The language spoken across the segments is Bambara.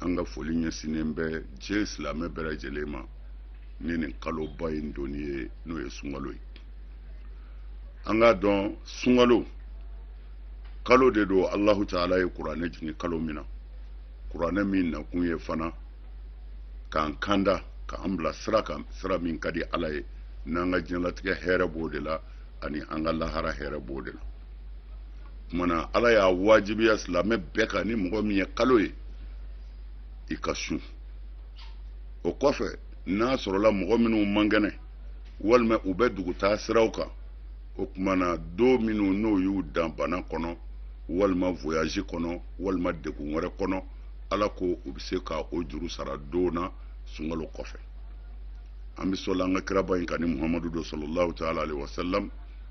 an ka foli ɲɛsinnen bɛ diɲɛ silamɛ bɛɛ lajɛlen ma ni nin kaloba in donni ye n'o ye sunkalo ye an k'a dɔn sunkalo kalo de don alahu taala ye kuranɛ jigin kalo min na kuranɛ min nakun ye fana k'an kanda k'an bila sira kan sira min ka di ala ye n'an ka diɲɛlatigɛ hɛrɛ b'o de la ani an ka lahara hɛrɛ b'o de la kuma na ala y'a wajibiya silamɛ bɛɛ kan ni mɔgɔ min ye kalo ye i ka sun o kɔfɛ n'a sɔrɔla mɔgɔ minnu man kɛnɛ walima u bɛ dugutaa siraw kan o kuma na don minnu n'o y'u dan bana kɔnɔ walima voyage kɔnɔ walima degun wɛrɛ kɔnɔ ala ko u bɛ se ka o juru sara don na sunkalo kɔfɛ an bɛ sɔli an ka kiraba in kan ni muhamadu don salalahu taala alayhi wa salam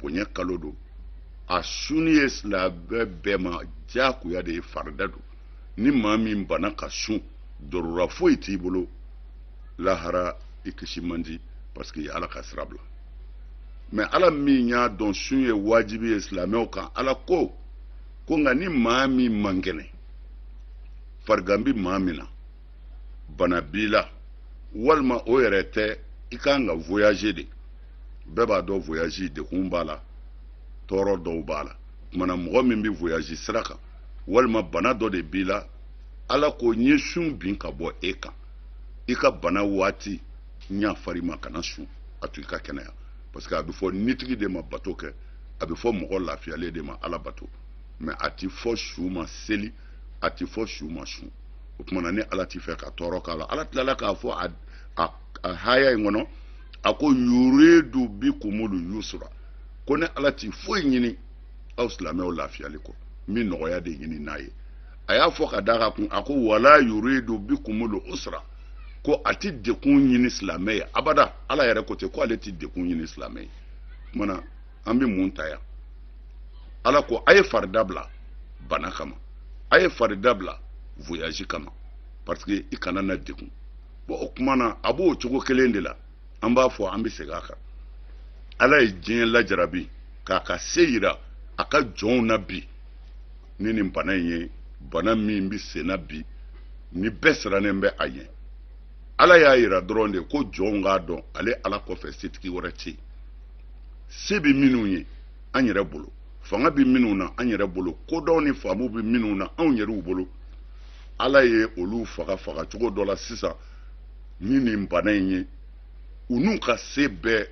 bonya kalo don a suni ye silamɛ bɛɛ ma diyagoya de ye farida don ni maa min banna ka sun dɔrɔn foyi t'i bolo lahara i kisi man di parce que i y'ala ka sira bila mais ala min y'a dɔn sun ye wajibi ye silamɛw kan ala ko ko nka ni maa min man kɛnɛ farigan bɛ maa min na bana b'i la walima o yɛrɛ tɛ i ka kan ka voyager de bɛɛ b'a dɔn voyage degun b'a la tɔɔrɔ dɔw b'a la kuma na mɔgɔ min bɛ voyage sira kan walima bana dɔ de b'i la ala ko n ye sun bin ka bɔ e kan i ka bana waati n y'a fɔ i ma kana sun a to i ka kɛnɛya parce que a bɛ fɔ nitigi de ma bato kɛ a bɛ fɔ mɔgɔ lafiyalen de ma ala bato mais a ti fɔ su ma seli a ti fɔ su ma sun o tuma na ni ala t'i fɛ ka tɔɔrɔ k'a la ala tilala k'a fɔ a a a haya in kɔnɔ a ko yuridu bikumul yusra ko ne ala ti foyi ɲini aw silamɛw lafiyali kɔ n bɛ nɔgɔya de ɲinin a ye a y'a fɔ ka d'a kan tun a ko wala yuridu bikumul usra ko a tɛ degun ɲini silamɛ ye abada ala yɛrɛ ko ten ko ale tɛ degun ɲini silamɛ ye o tuma na an bɛ mun ta yan ala ko a ye farida bila bana kama a ye farida bila voyage kama parce que i kana na degun bon o kuma na a b'o cogo kelen de la an b'a fɔ an bɛ segin a kan ala ye diɲɛ lajarabi k'a ka se yira a ka jɔnw na bi ni nin bana in ye bana min bɛ sen na bi ni bɛɛ sirannen bɛ a ɲɛ ala y'a yira dɔrɔn de ko jɔnw k'a dɔn ale ala kɔfɛ setigi wɛrɛ tɛ yen se bɛ minnu ye an yɛrɛ bolo fanga bɛ minnu na an yɛrɛ bolo kodɔn ni faamu bɛ minnu na anw yɛrɛw bolo ala ye olu faga faga cogo dɔ la sisan ni nin bana in ye u n'u ka se bɛɛ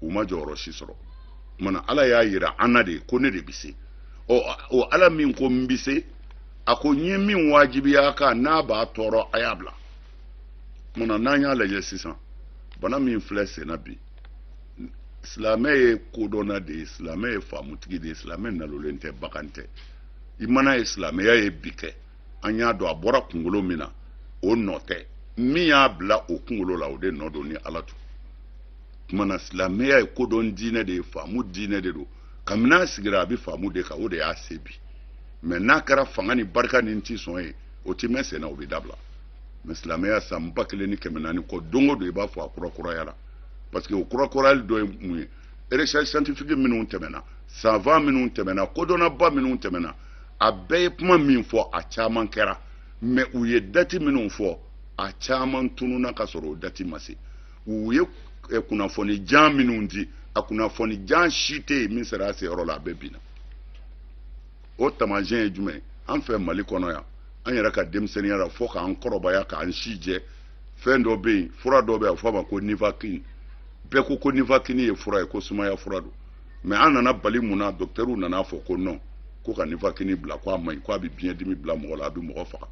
u ma jɔyɔrɔ si sɔrɔ kumana ala y'a yira an na de ko ne de bɛ se ɔ o ala min ko n bɛ se a ko n ye min wajibiya a kan n'a b'a tɔɔrɔ a y'a bila kumana n'an y'a lajɛ sisan bana min filɛ senna bi silamɛ ye kodɔnna de ye silamɛ ye faamutigi de ye silamɛ nalolen tɛ bagan tɛ i mana ye silamɛya ye bi kɛ an y'a dɔn a bɔra kunkolo min na o nɔ tɛ min y'a bila o kunkolo la o de nɔ don ni ala to tumana silamɛya ye kodɔn diinɛ de ye faamu diinɛ de don kabini a sigira a bɛ faamu de kan o de y'a se bi ma n'a kɛra fanga ni barika ni n ti sɔn ye o ti mɛn senna o bɛ dabila mais silamɛya san ba kelen ni kɛmɛ naani kɔ don o don i b'a fɔ a kurakurayara parce que o kurakurayali dɔ ye mun ye recherche scientifique minnu tɛmɛna savant minnu tɛmɛna kodɔnnaba minnu tɛmɛna a bɛɛ ye kuma min fɔ a caman kɛra mais u ye dati minnu fɔ a caman tununa ka sɔrɔ o dati ma se u ye eh, kunnafoni jan minnu di a kunnafoni jan si tɛ yen min sera a seyɔrɔ la a bɛɛ binna o taamasiyɛn ye jumɛn an fɛ mali kɔnɔ yan an yɛrɛ ka denmisɛnninya la fo k'an kɔrɔbaya k'an si jɛ fɛn dɔ bɛ yen fura dɔ bɛ yen a fɔ a ma ko nivaquine bɛɛ ko ko nivaquine ye fura ye ko sumaya fura don mais an nana bali mun na docteurw nana fɔ ko non ko ka nivaquine bila ko a man ɲi ko a bɛ biɲɛ dimi bila mɔgɔ la a bɛ mɔgɔ faga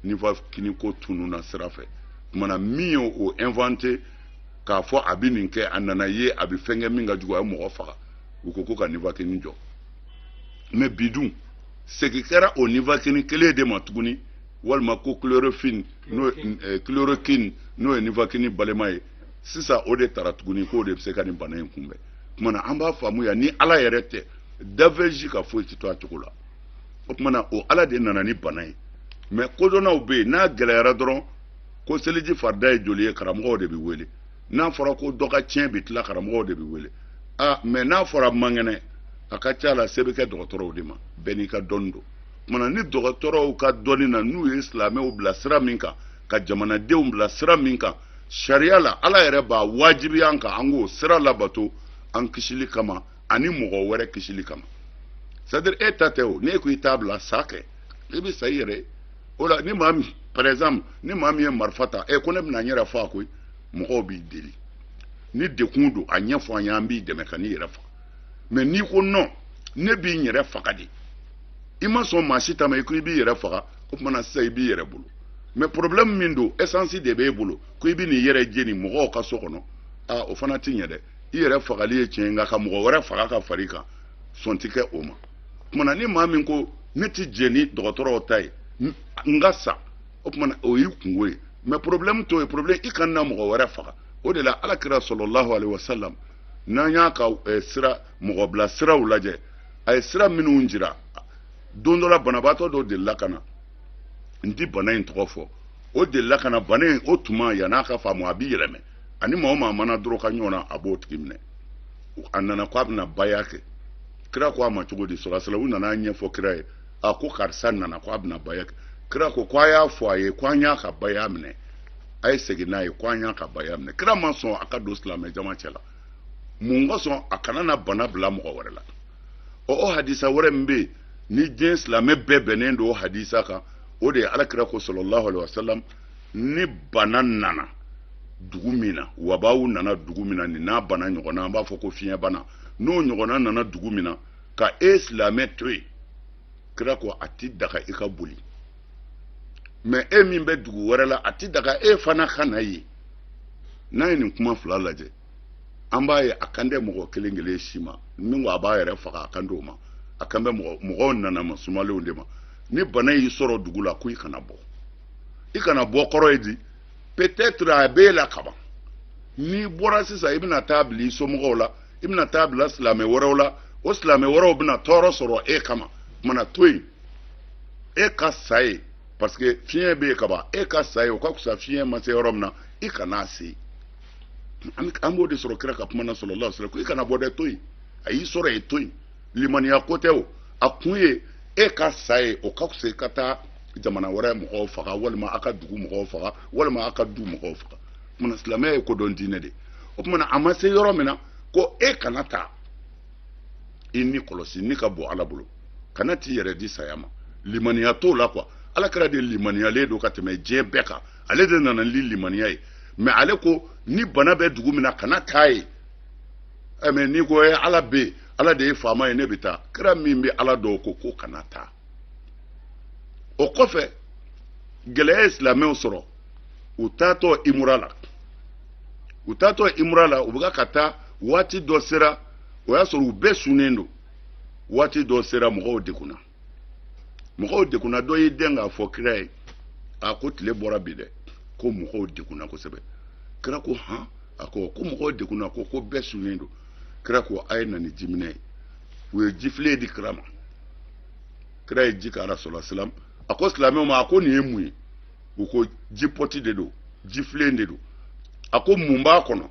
nivaquine ko tununna sira fɛ kumana min ye o inventé k'a fɔ a bɛ nin kɛ a nana ye a bɛ fɛn kɛ min ka jugu a ye mɔgɔ faga u ko ko ka nivaquine jɔ mais bi dun segin kɛra o nivaquine kelen de ma tuguni walima ko chloroquine n'o eh, chloroquine n'o ye nivaquine balima ye sisan o de tara tuguni k'o de bɛ se ka nin bana in kunbɛn kumana an b'a faamu yan ni ala yɛrɛ tɛ danfɛn si ka foyi tɛ to a cogo la o kumana o ala de nana ni bana ye mais kodɔnnaw bɛ yen n'a gɛlɛyara dɔrɔn ko seliji farida ye joli ye karamɔgɔw de bɛ wele n'a fɔra ko dɔ ka tiɲɛ bɛ tila karamɔgɔw de bɛ wele a mais n'a fɔra man kɛnɛ a ka ca la se bɛ kɛ dɔgɔtɔrɔw de ma bɛɛ n'i ka dɔnni don kumana ni dɔgɔtɔrɔw ka dɔnni na n'u ye silamɛw bila sira min kan ka jamanadenw bila sira min kan sariya la ala yɛrɛ b'a wajibiya an kan an k'o sira labato an kisili kama ani mɔgɔ wɛrɛ kisili kama c'est-à-dire e ta tɛ o n'e ko i t'a bila sa kɛ i bɛ sa i yɛrɛ o la ni maa min par exemple ni maa min ye marifa ta ko ne bɛna n yɛrɛ faga koyi mɔgɔw b'i deli ni degun don a ɲɛfɔ an ye an b'i dɛmɛ kan'i yɛrɛ faga mais n'i ko non ne bi n yɛrɛ faga de i ma sɔn maa si ta ma i ko i b'i yɛrɛ faga o tuma na sisan i b'i yɛrɛ bolo mais problème min don essence de b'e bolo ko i bɛn'i yɛrɛ jeni mɔgɔw ka so kɔnɔ aa o fana ti ɲɛ dɛ i yɛrɛ fagali ye tiɲɛ nka ka mɔgɔ wɛrɛ faga ka far'i kan sɔn ti kɛ o ma kumana ni maa min ko ne ti jɛ ni dɔgɔtɔrɔw ta ye n ka sa o kumana o y'i kungo ye mais problème t'o ye problème i kana na mɔgɔ wɛrɛ faga o de la ala kira salalahu alehi wasalam n'an y'a ka eh, sira mɔgɔbilasiraw lajɛ a ye sira minnu jira don dɔ la banabaatɔ dɔ delila ka na n ti bana in tɔgɔ fɔ o delila ka na bana in o tuma yan'a ka faamu a bi yɛlɛma ani maa o maa mana dɔrɔgɔ ɲɔgɔn na a b'o tigi minɛ a nana ko a bɛna baya kɛ kira ko a ma cogo di salalahu alayhi wa sallam u nana ɲɛfɔ kira ye a ko karisa nana ko a bɛna baya kɛ kira ko ko a y'a fɔ a ye ko an y'a ka baya minɛ a ye segin n'a ye ko an y'a ka baya minɛ kira ma sɔn a ka don silamɛ jama cɛ la mun kosɔn a kana na bana bila mɔgɔ wɛrɛ la ɔ o hadisa wɛrɛ min bɛ yen ni diɲɛ silamɛ bɛɛ bɛnnen don hadisa kan o de ye alakira ko salalahu alayhi wa sallam ni bana nana dugu min na wabaw nana dugu min na nin n'a bana ɲɔgɔnna an b'a fɔ ko fiɲɛ bana n'o ɲɔgɔnna nana dugu min na ka e silamɛ to yen kira ko a ti daga i ka boli mais e min bɛ dugu wɛrɛ la a ti daga e fana ka na yen n'a ye nin kuma fila lajɛ an b'a ye a kan tɛ mɔgɔ kelen kelen si ma min ko a b'a yɛrɛ faga a kan t'o ma a kan bɛ mɔgɔ mɔgɔw ɲanama sumalenw de ma ni bana y'i sɔrɔ dugu la ko i kana bɔ i kana bɔ kɔrɔ ye di peut-être a b'e la kaban n'i bɔra sisan i bɛna taa bila i somɔgɔw la i bɛna taa bila silamɛ wɛrɛw la o silamɛ wɛrɛw bɛna tɔɔrɔ sɔrɔ e kama mana to yen e ka sa yen parce que fiɲɛ bɛ yen kaban e ka sa yen o ka fisa fiɲɛ ma se yɔrɔ min na i kana a se an b'o de sɔrɔ kira ka kuma na salalahu alayhi wa sallam ko i kana bɔ dɛ to yen a y'i sɔrɔ yen to yen limaniya ko tɛ o a kun ye e ka sa yen o ka fisa i ka taa jamana wɛrɛ mɔgɔw faga walima a ka dugu mɔgɔw faga walima a ka du mɔgɔw faga o kumana silamɛya ye kodɔn diinɛ de o kumana a ma se yɔrɔ min na ko e kana taa i ni kɔlɔsi ni ka bon ala bolo kana t'i yɛrɛ di saya ma limaniya t'o la quoi alakira de limaniyalen don ka tɛmɛ diɲɛ bɛɛ kan ale de nana ni limaniya ye mais ale ko ni bana bɛ dugu min na kana taa yen eh, mais n'i ko ye eh, ala bɛ ala de ye faama ye ne bɛ taa kira min bɛ ala dɔn ko ko kana taa o kɔfɛ gɛlɛya ye silamɛw sɔrɔ u taatɔ imura la u taatɔ imura la u bɛ ka taa waati dɔ sera o y'a sɔrɔ u bɛɛ sunnen don waati dɔ sera mɔgɔw degunna mɔgɔw degunna dɔ y'i dɛn k'a fɔ kira ye a ko tile bɔra bi dɛ ko mɔgɔw degunna kosɛbɛ kira ko han a ko ko mɔgɔw degunna ko ko bɛɛ sunnen don kira ko a ye na ni jiminɛn ye u ye jifilen di kira ma kira ye ji k'a la salalahu alayhi wa sallam a ko silamɛw ma a ko nin ye mun ye u ko ji pɔti de don jifilen de don a ko mun b'a kɔnɔ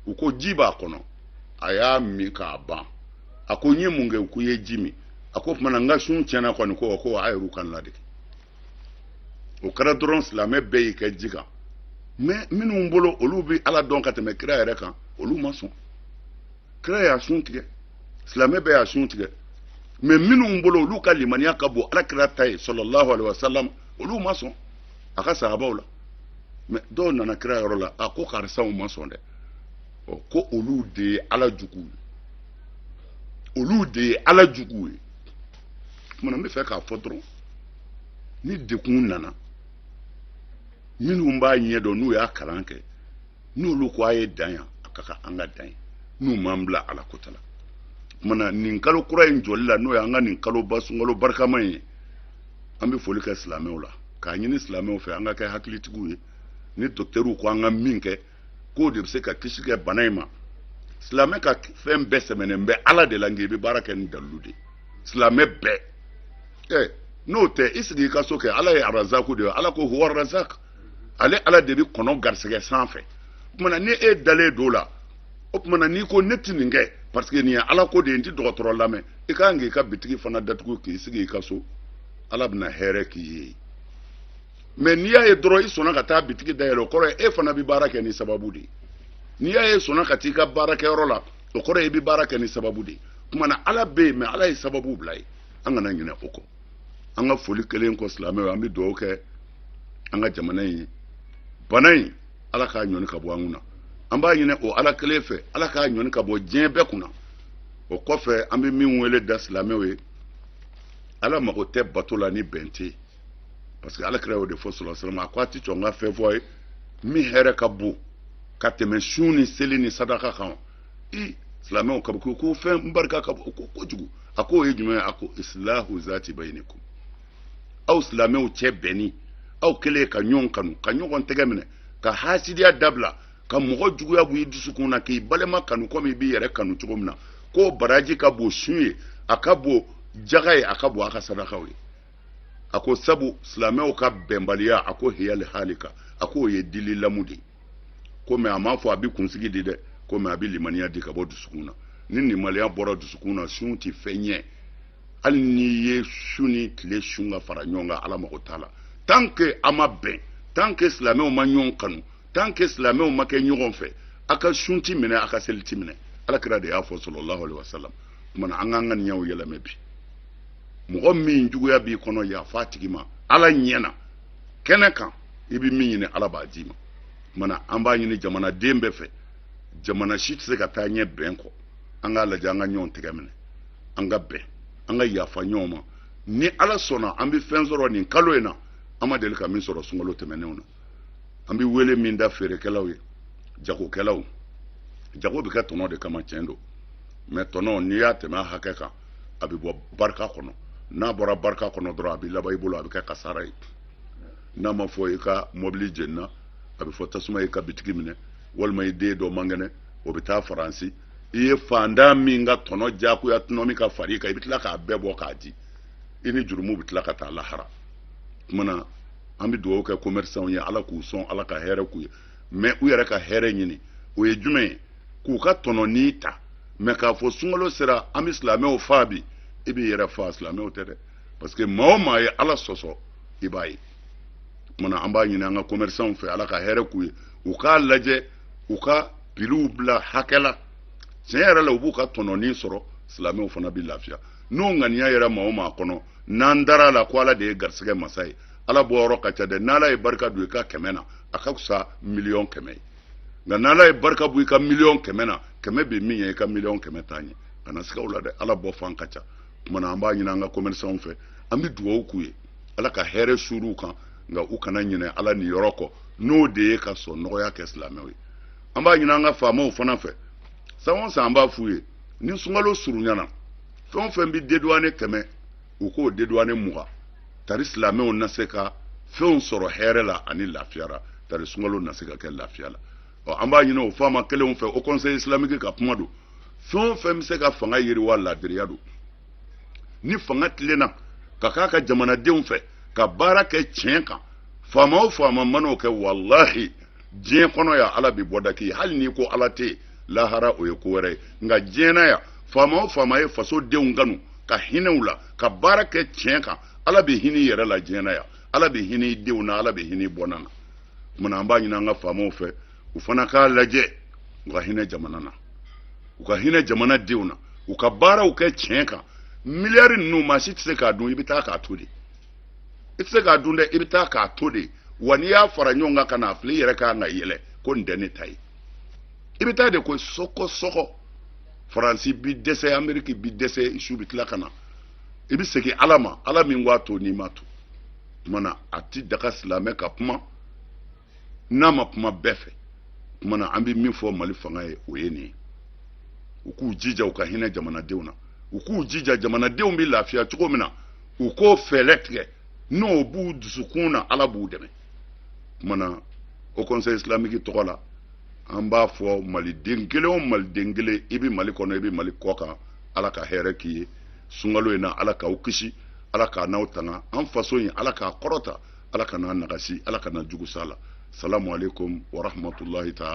u ko ji b'a kɔnɔ a y'a min k'a ban a ko n ye mun kɛ u ko i ye ji min a ko tuma na n ka sun tiɲɛna kɔni ko ko a yɛrɛ ka n ladege o kɛra dɔrɔn silamɛ bɛɛ y'i kɛ ji kan mais minnu bolo olu bɛ ala dɔn ka tɛmɛ kira yɛrɛ kan olu ma sɔn kira y'a sun tigɛ silamɛ bɛɛ y'a sun tigɛ mais minnu bolo olu ka limaniya ka bon ala kira ta ye sallallahu alaihi wasallam olu ma sɔn a ka sahabaw la mais dɔw nana kira yɔrɔ la a ko karisaw ma sɔn dɛ ɔ ko olu de ye ala juguw ye olu de ye ala juguw ye tuma na n bɛ fɛ k'a fɔ dɔrɔn ni degun nana minnu b'a ɲɛ dɔn n'u y'a kalan kɛ n'olu ko a ye dan yan a ka kan an ka dan yen n'u m'an bila ala kota la tuma na nin kalo kura in jɔli la n'o ye an ka nin kaloba sunkalo barikama in ye an bɛ foli kɛ silamɛw la k'a ɲini silamɛw fɛ an ka kɛ hakilitigiw ye ni dɔkitɛriw ko an ka min kɛ k'o de bɛ se ka kisi kɛ bana in ma silamɛ ka fɛn bɛɛ sɛmɛnen bɛ ala de la nka i bɛ baara kɛ ni dalilu de ye silamɛ bɛɛ ɛ n'o tɛ i sigi i ka so kɛ ala ye arazaku de ye ala ko huwa razak ale ala de bɛ kɔnɔ garisɛgɛ sanfɛ o tuma na ni e dalen don o la o tuma na n'i ko ne tɛ nin kɛ parce que nin ye ala ko de ye n tɛ dɔgɔtɔrɔ lamɛn i ka kan k'i ka bitigi fana datugu k'i sigi i ka so ala bɛna hɛrɛ k'i ye mais n'i y'a ye dɔrɔn i sɔnna ka taa bitigi dayɛlɛ o kɔrɔ ye e fana bɛ baara kɛ ni sababu de ye n'i y'a ye i sɔnna ka t'i ka baarakɛyɔrɔ la o kɔrɔ ye i bɛ baara kɛ ni sababu de ye tuma na ala bɛ yen mais ala ye sababu bila ye an kana ɲinɛ o kɔ an ka foli kelen kɔ silamɛw an bɛ dugawu kɛ an ka jamana in ye bana in ala k'a ɲɔni ka bɔ an kunna an b'a ɲini o ala kelen fɛ ala k'a ɲɔni ka bɔ diɲɛ bɛɛ kunna o kɔfɛ an bɛ min wele da silamɛw ye ala mago tɛ bato la ni bɛn tɛ parce que ala kira y'o de fɔ sallallahu alaihi wasallam a ko a tɛ sɔn n ka fɛn fɔ a ye min hɛrɛ ka bon ka tɛmɛ sun ni seli ni sadaka kan i silamɛw ka ko fɛn barika ka bon kojugu a k'o ye jumɛn ye a ko isilahu zati bayinikum aw silamɛw cɛ bɛnni aw kɛlen ka ɲɔgɔn kanu ka ɲɔgɔn tɛgɛ minɛ ka hasidiya dabila ka mɔgɔ juguya bɔ i dusukun na k'i balima kanu komi i b'i yɛrɛ kanu cogo min na k'o baraji ka bon sun ye a ka bon jaga ye a ka bon a ka sadakaw ye a ko sabu silamɛw ka bɛnbaliya a ko hiyali halika a k'o ye dili lamu de ye ko mais a m'a fɔ a bɛ kunsigi di dɛ ko mais a bɛ limaniya di ka bɔ dusukun na ni limaniya bɔra dusukun na sun tɛ fɛn ɲɛ hali n'i ye su ni tile sun ka fara ɲɔgɔn kan ala mago t'a la tant que a ma bɛn tant que silamɛw ma ɲɔgɔn kanu tant que silamɛw ma kɛ ɲɔgɔn fɛ a ka sun ti minɛ a ka seli ti minɛ ala kira de y'a fɔ sallallahu alaihi wasallam tuma na an k'an ka ŋaniyaw yɛlɛmɛ bi mɔgɔ min juguya b'i kɔnɔ yafa a tigi ma ala ɲɛ na kɛnɛ kan i bɛ min ɲini ala b'a d'i ma tuma na an b'a ɲini jamanaden bɛɛ fɛ jamana si tɛ se ka taa ɲɛ bɛn kɔ an k'a lajɛ an ka ɲɔgɔn tɛgɛ minɛ an ka bɛn an ka yafa ɲɔgɔn ma ni ala sɔnna an bɛ fɛn sɔrɔ nin kalo in na an ma deli ka min sɔrɔ sunkalo tɛmɛnenw na an bɛ wele min da feerekɛlaw ye jagokɛlaw jago bɛ kɛ tɔnɔ de kama tiɲɛ don mais tɔnɔ n'i y'a tɛmɛ a hakɛ kan a bɛ bɔ barika kɔnɔ n'a bɔra barika kɔnɔ dɔrɔn a bɛ laban i bolo a bɛ kɛ kasara ye n'a ma fɔ i ka mɔbili jenina a bɛ fɔ tasuma y'i ka bitigi minɛ walima i den dɔ man kɛnɛ o bɛ taa faransi i ye fantan min ka tɔnɔ diyagoya tɔnɔ min ka far'i kan i bɛ tila k'a bɛɛ bɔ k'a di i ni jurumu bɛ tila ka taa lahara kumana an bɛ dugawu kɛ commerçants ye ala k'u sɔn ala ka hɛrɛ k'u ye mais u yɛrɛ ka hɛrɛ ɲini o ye jumɛn ye k'u ka tɔnɔni ta mais k'a fɔ sunkalo sera an bɛ silamɛw faa bi i b'i yɛrɛ faa silamɛw tɛ dɛ parce que maa o maa ye ala sɔsɔ i b'a ye kumana an b'a ɲini an ka commerçants fɛ ala ka hɛrɛ k'u ye u k'a lajɛ u ka piliw bila hakɛ la tiɲɛ yɛrɛ la u b'u ka tɔnɔni sɔrɔ silamɛw fana bɛ lafiya n'o ŋaniya yɛrɛ maa o maa kɔnɔ n'an dara a la ko ala de ye garisɛgɛ masa ye ala bɔ yɔrɔ ka ca dɛ n'ala ye barika don i ka kɛmɛ na a ka fisa miliyɔn kɛmɛ ye nka n'ala ye barika bɔ i ka miliyɔn kɛmɛ na kɛmɛ bɛ min ɲɛ i ka miliyɔn kɛmɛ t'a ɲɛ kana siga o la dɛ ala bɔ fan ka ca kumana an b'a ɲini an ka commerçants fɛ an bɛ dugawu k'u ye ala ka hɛrɛ suur'u kan nka u kana ɲinɛ ala niyɔrɔ kɔ n'o de ye ka sɔn nɔgɔya kɛ silamɛw ye an b'a ɲini an ka faamaw fana fɛ san o san an b'a f'u ye ni sunkalo surunyana fɛn o fɛn bɛ dédouané kɛmɛ u k'o dédouané mugan tari silamɛw na se ka fɛnw sɔrɔ hɛrɛ la ani lafiya la tari sunkalo na se ka kɛ lafiya la ɔ an b'a ɲini o faama kelenw fɛ o conseil islamique ka kuma don fɛn o fɛn bɛ se ka fanga yiriwa laadiriya don ni fanga tilenna ka k'a ka jamanadenw fɛ ka baara kɛ tiɲɛ kan faama o faama man'o kɛ walahi diɲɛ kɔnɔ yan ala bi bɔda k'i hali n'i ko ala tɛ lahara o ye ko wɛrɛ ye nka diɲɛ na yan faama o faama ye faso denw kanu ka hinɛ u la ka baara kɛ tiɲɛ kan ala bɛ hinɛ i yɛrɛ la diɲɛ na yan ala bɛ hinɛ i denw na ala bɛ hinɛ i bɔnna na kumana an b'a ɲini an ka faamaw fɛ u fana k'a lajɛ u ka hinɛ jamana na u ka hinɛ jamana denw na u ka baaraw kɛ tiɲɛ kan miliyari ninnu maa si tɛ se k'a dun i bɛ taa k'a to de i tɛ se k'a dun dɛ i bɛ taa k'a to de wa n'i y'a fara ɲɔgɔn kan ka n'a filɛ i yɛrɛ kan ka yɛlɛ ko nin tɛ ne ta ye i bɛ taa de ko sɔgɔsɔgɔ faransi bi dɛsɛ ameriki bi dɛsɛ su bɛ tila ka na i bɛ segin ala ma ala min ko a to n'i m'a to tuma na a ti daga silamɛ ka kuma n'a ma kuma bɛɛ fɛ tuma na an bɛ min fɔ mali fanga ye o ye nin ye u k'u jija u ka hinɛ jamanadenw na u k'u jija jamanadenw bɛ lafiya cogo min na u k'o fɛɛrɛ tigɛ n'o b'u dusukun na ala b'u dɛmɛ tuma na o conseil islamique tɔgɔ la an b'a fɔ maliden kelen o maliden kelen i bɛ mali kɔnɔ i bɛ mali kɔ kan ala ka hɛrɛ k'i ye sunkalo in na ala k'aw kisi ala k'an n'aw tanga an faso in ala k'a kɔrɔta ala kana nagasi ala kana jugusa la salamu aleykum warahmatulahi taala